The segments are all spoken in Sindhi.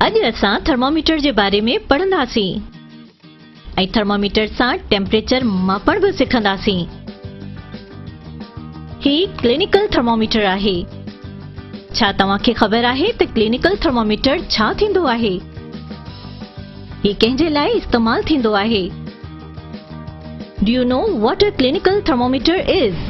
اڄ اسان ٿرماميٽر جي باري ۾ پڙهنداسين ۽ ٿرماميٽر سان ٽيمپريچر ماپڻ به سکنداسين هي ڪلينيڪل ٿرماميٽر آهي ڇا توهان کي خبر آهي ته ڪلينيڪل ٿرماميٽر ڇا ٿيندو آهي هي ڪنهن جي لاء استعمال ٿيندو آهي do you know what a clinical thermometer is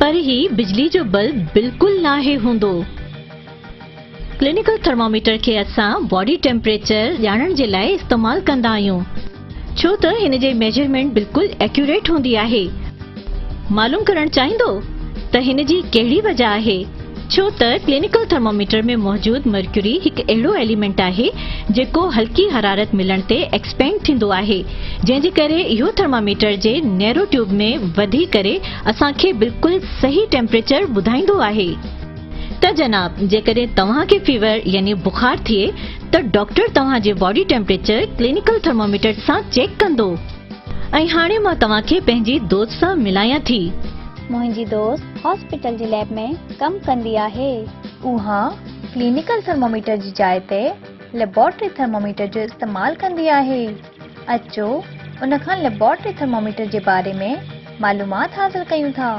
پر هي بجلي جو بلب بلڪل ناهي هوندو. ڪلينيڪل ٿرماميٽر کي اسان باڊي ٽيمپريچر ڄاڻڻ جي لاء استعمال ڪندا آهيون ڇو ته هن جي ميجرمينٽ بلڪل ايڪيوريٽ هوندي آهي. معلوم ڪرڻ چاهيندو ته هن جي ڪهڙي وجه آهي؟ ڇو ته ڪلينيڪل ٿرموميٽر ۾ موجود مرڪيوري هڪ اهڙو ايليمينٽ آهي جيڪو هلڪي حرارت ملڻ تي ايڪسپينڊ ٿيندو آهي جنهن جي ڪري اهو ٿرماميٽر جي نيرو ٽيوب ۾ وڌي ڪري اسان کي بلڪل صحيح ٽيمپريچر ٻڌائيندو آهي ته جناب جيڪڏهن توهان کي فيور يعني بخار ٿئي ته ڊاڪٽر توهان جي باڊي ٽيمپريچر ڪلينيڪل ٿرموميٽر سان چيڪ ڪندو. ۽ هاڻي مان توهان کي پنهنجي دوست سان ملايان ٿي. منهنجي دوست هاسپيٽل جي ليب ۾ ڪم ڪندي آهي. اها ڪلينيڪل ٿرموميٽر جي جاء تي ليبارٽري ٿرموميٽر جو استعمال ڪندي آهي. اچو ان کان ليبارٽري ٿرموميٽر جي باري ۾ معلومات حاصل ڪيون ٿا.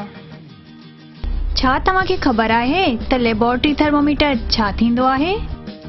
ڇا توهان کي خبر آهي ته ليبارٽري ٿرموميٽر ڇا ٿيندو آهي؟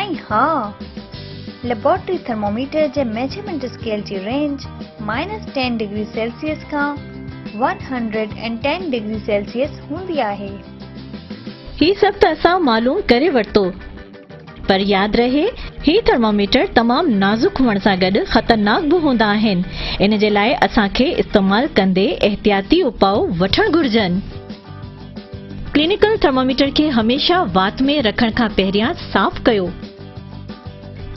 ۽ ها، ليبارٽري ٿرموميٽر جي ميجرمينٽ اسڪيل جي range minus ten degree Celsius کان one hundred and ten degree Celsius هوندي آهي. هي سڀ ته اسان معلوم ڪري ورتو، پر ياد رهي هي ٿرموميٽر تمام نازڪ هئڻ سان گڏ خطرناڪ به هوندا آهن، ان جي لاء اسان کي استعمال ڪندي احتياطي اپاء وٺڻ گهرجن. ڪلينيڪل ٿرماميٽر کي هميشه وات ۾ رکڻ کان پهريان صاف ڪيو.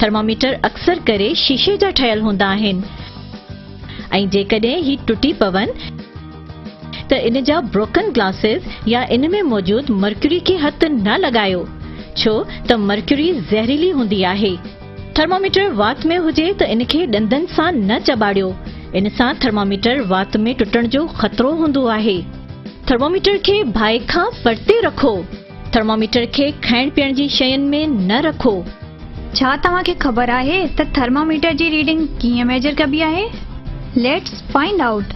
ٿرماميٽر اڪثر ڪري شيشي جا ٺهيل هوندا آهن ۽ جيڪڏهن هي ٽٽي پون ته ان جا بروڪن گلاسز يا ان ۾ موجود مرڪيوري کي هٿ نه لڳايو ڇو ته مرڪيوري زهريلي هوندي آهي. ٿرماميٽر وات ۾ هجي ته ان کي ڏندن سان نه چٻاڙيو، ان سان ٿرماميٽر وات ۾ ٽٽڻ جو خطرو هوندو آهي. ٿرماميٽر کي باهه کان پرتي رکو. ٿرماميٽر کي کائڻ پيئڻ جي شين ۾ نه رکو. ڇا توهان کي خبر آهي ته ٿرماميٽر جي ريڊنگ ڪيئن ميجر ڪبي آهي؟ Let's find out.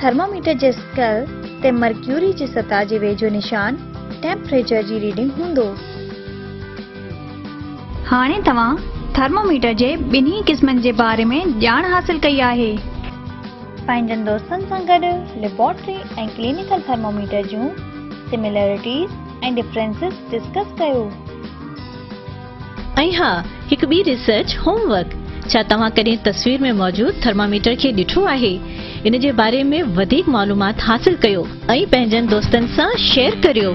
ٿرماميٽر جي اسڪيل تي مرڪيوري جي سطح جي ويجهو نشان ٽيمپريچر جي ريڊنگ هوندو. هاڻي توهان ٿرماميٽر جي ٻنهي قسمن جي باري ۾ ڄاڻ حاصل ڪئي آهي. پنهنجن دوستن سان گڏ ليبارٽري ۽ ڪلينيڪل ٿرماميٽر جون سميلرٽيز ۽ ڊفرينسز ڊسڪس ڪيو. ۽ ها هڪ ٻي ريسرچ هوم ورڪ ڇا توهان ڪڏهن تصوير ۾ موجود ٿرماميٽر کي ڏٺو آهي ان جي باري ۾ وڌيڪ معلومات حاصل ڪيو ۽ پنهنجن دوستن سان شيئر ڪريو.